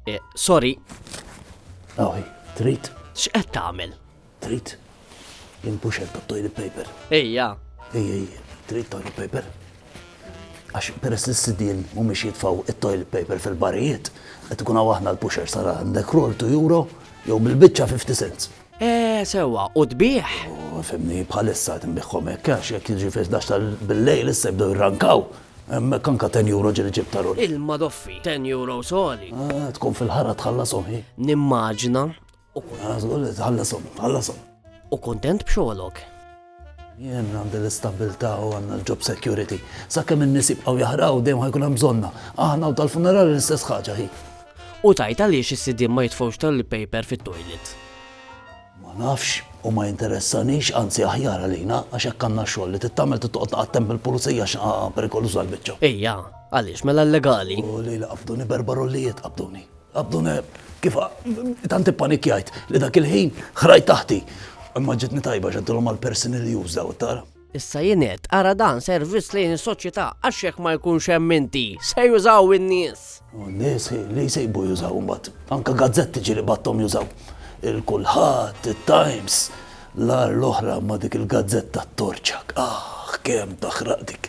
Eh, sorry. Awi, trit. X'qed tagħmel? Trit. Inpux hemm toilet paper. Ejja. Ej, ej, trit toilet paper. Għax peress li s-sidien mhumiex jitfaw it-toilet paper fil-barijiet, qed ikun hawn aħna l-pusher sara għandek roll to euro jew bil-biċċa 50 cents. Eeh sewwa, u tbigħ? U fhimni, bħalissa qed inbiegħhom hekk, għax jekk jiġi fil-ħdax ta' bil-lejl issa jibdew jirrankaw. Hemmhekk anke ten euro ġieli ġibt ta' ruħi. Il-madoffi, ten euros għoli. Eeh, tkun fil-ħara tħallashom hi. Nimmaġina, u. Eeh, żgur li tħallashom, tħallashom. U kuntent b'xogħlok? Jien għandi l-istabbiltà u għandna l-job security. Sakemm in-nies jibqgħu jaħraqu dejjem ħa jkun hemm bżonnna. Aħna u tal-funerali l-istess ħaġa hi. U tgħid għaliex is-sidien ma jitfgħux toilet paper fit-toilet? Ma nafx u ma jinteressanix, anzi aħjar għalina għax hekk għandna xogħol li trid tagħmel trid toqgħod taqattem bil-pulizija għax perikoluża l-biċċa. Ejja, għaliex mela l-legali? U li li qabduni berba rollijiet qabduni. Abdun Eb, kif tant ippanikjajt li dak il-ħin ħrajt taħti. Imma ġitni tajba x'għedtilhom għall-persini li jużaw it-tara. Issa jien għedt, ara dan servizz lejn is-soċjetà għax jekk ma jkunx hemm inti, se jużaw in-nies. U n-nies li jsejbu jużaw imbagħad. Anke gazzetti ġieli bgħatthom jużaw. Il-Kulħadd, it-Times, l-agħar l-oħra ma' dik il-gazzetta t-torċak. Aħ, kemm taħraq dik.